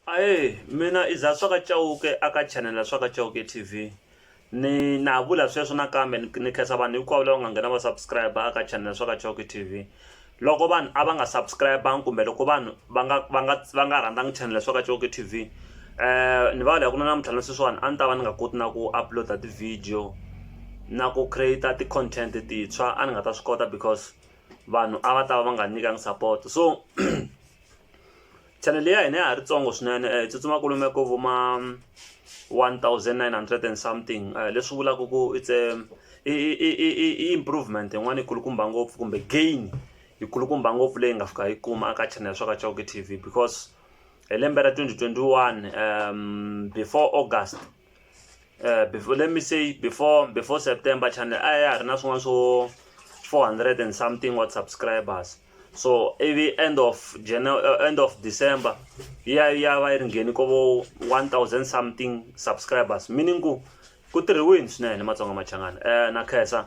Ahee mina i Zah swaka Chauke a ka chanel swaka Chauke T_V ni na ha vula sweswo nakambe ni ni khensa vanhu hinkwavo lava nga nghena va subscribe a ka chanel swaka Chauke T_V loko vanhu a va nga subscribe kumbe loko vanhu va nga va nga va nga rhandzanga chanel swaka Chauke T_V ni va loko na namuntlha na sweswiwani a ni ta va ni nga koti na ku upload ti-video na ku create ti-content tintshwa a ni nga ta swi kota because vanhu a va ta va va nga nyikangi support so Chanele ya hina ya ha ri tsongo swinene eh, hi tsutsuma kulume ko vuma 1900 and something eh, leswi vulaka ku it's a i improvement yin'wana yi kulukumba ngopfu kumbe gain yi kulukumba ngopfu leyi nga fika yi kuma aka chanele swa ka chauke tv because hi lembe ra 2021 um before august uh, before, let me say before before september channel a ya ha ri na swin'wana swo 400 and something what subscribers so ivi end of January, uh, eh, end of december ya ya va yi ri ngheni ko vo 1000 something subscribers meaning ku ku tirhiwini swinene matsonga machangana um na khensa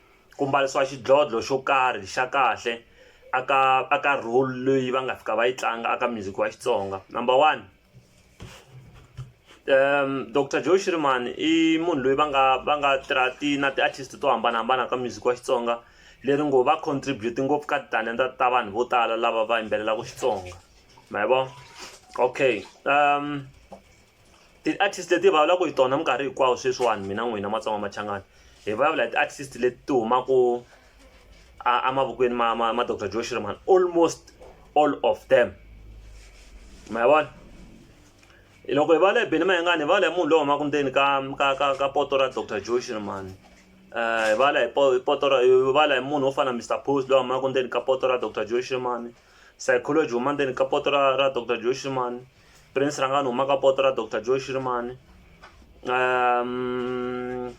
ku mbarisiwa xidlodlo xo karhi xa kahle aka aka role leyi va nga fika va yi tlanga aka music wa Xitsonga number one um Doctor Joe Shirimani i munhu loyi va nga va nga tirha ti na ti-artist to hambanahambana ka music wa Xitsonga leri ngo va contribute ngopfu ka titalenta ta vanhu vo tala lava va yimbelelaka Xitsonga ma yi vona okay um Ti-artist leti hi vulavulaka hi tona minkarhi hinkwawo sweswiwani mina n'wina matsonga machangani hi vulavula hi ti-artist leti ti humaka emavokweni ma ma ma doctor joe shirman almost all of them ma vona loko hi vulavula hi beni mayengani hi vulavula hi munhu loyi humaka ndzeni ka ka ka ka poto ra doctor joe shirman um hi vulavula hi poto ra hi vulavula hi munhu wo fana na mister post loyi humaka ndzeni ka poto ra doctor joe shirman psychology huma ndzeni ka poto ra ra doctor joe shirman Prince ranga ni humaka poto ra Doctor Joe Shirimani um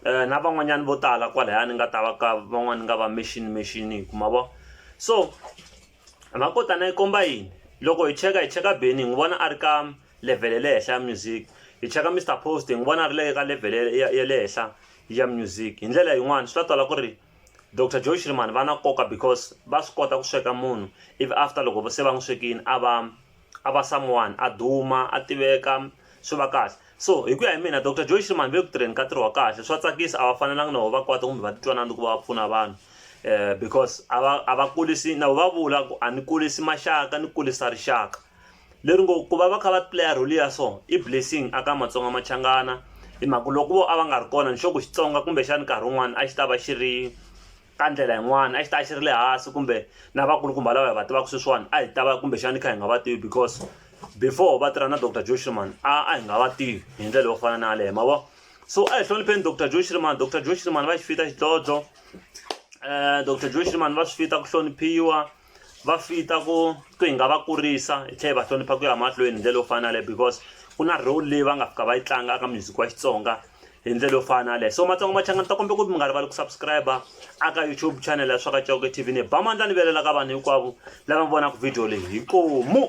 eh, na van'wanyana vo tala kwalaya ni nga ta va ka van'wana nga va machine machine hi kuma vo so makotana yi komba yini loko hi cheka hi cheka beni hi n'wi vona a ri ka level ya le henhla ya music hi cheka mr post hi n'wi vona a ri le ka level ya le henhla ya music hi ndlela yin'wani swi ta twala ku ri dr joy shriman va na nkoka because va swi kota ku sweka munhu ivi after loko se va n'wi swekini a va a va someone a duma a tiveka swi va kahle so hi ku ya hi mina dr joy shriman ve ku tirheni ka ntirho wa kahle swa tsakisa a va fanelanga na vo va kwata kumbe va titwanana ku va va pfuna vanhu um because a va a va kulisi na vo va vula ku a ni kulisi maxaka ni kulisa rixaka leri ngo ku va va kha va playa role ya so i blessing aka matsonga machangana hi mhaka loko vo a va nga ri kona ni sure ku xitsonga kumbexani nkarhi wun'wani a xi ta va xi ri ka ndlela yin'wana a xi ta xi ri le hansi kumbe na vakulukumba lava hi va tivaka sweswiwani a hi ta va kumbexani hi kha hi nga va tivi because before va tirha na dr joe shriman a a hi nga va tivi hi ndlela yo fana na yaleyo ma vo so a hi hlonipheni dr joe shriman dr joe shriman va xi fita xidlodlo um eh, dr joe shriman va swi fita ku hloniphiwa va fita ku ku hi nga va kurisa hi tlhela hi va hlonipha ku ya mahlweni hi ndlela yo fana yaleyo because ku na role leyi va nga fika va yi tlanga aka music wa xitsonga hi ndlela yo fana yaleyo so matsongo machanga ni ta kombela ku mi nga rivali ku subscribe aka youtube channel ya swaka coke tv ni ba mandla ni velela ka vanhu hinkwavo lava vonaka video leyi hi komu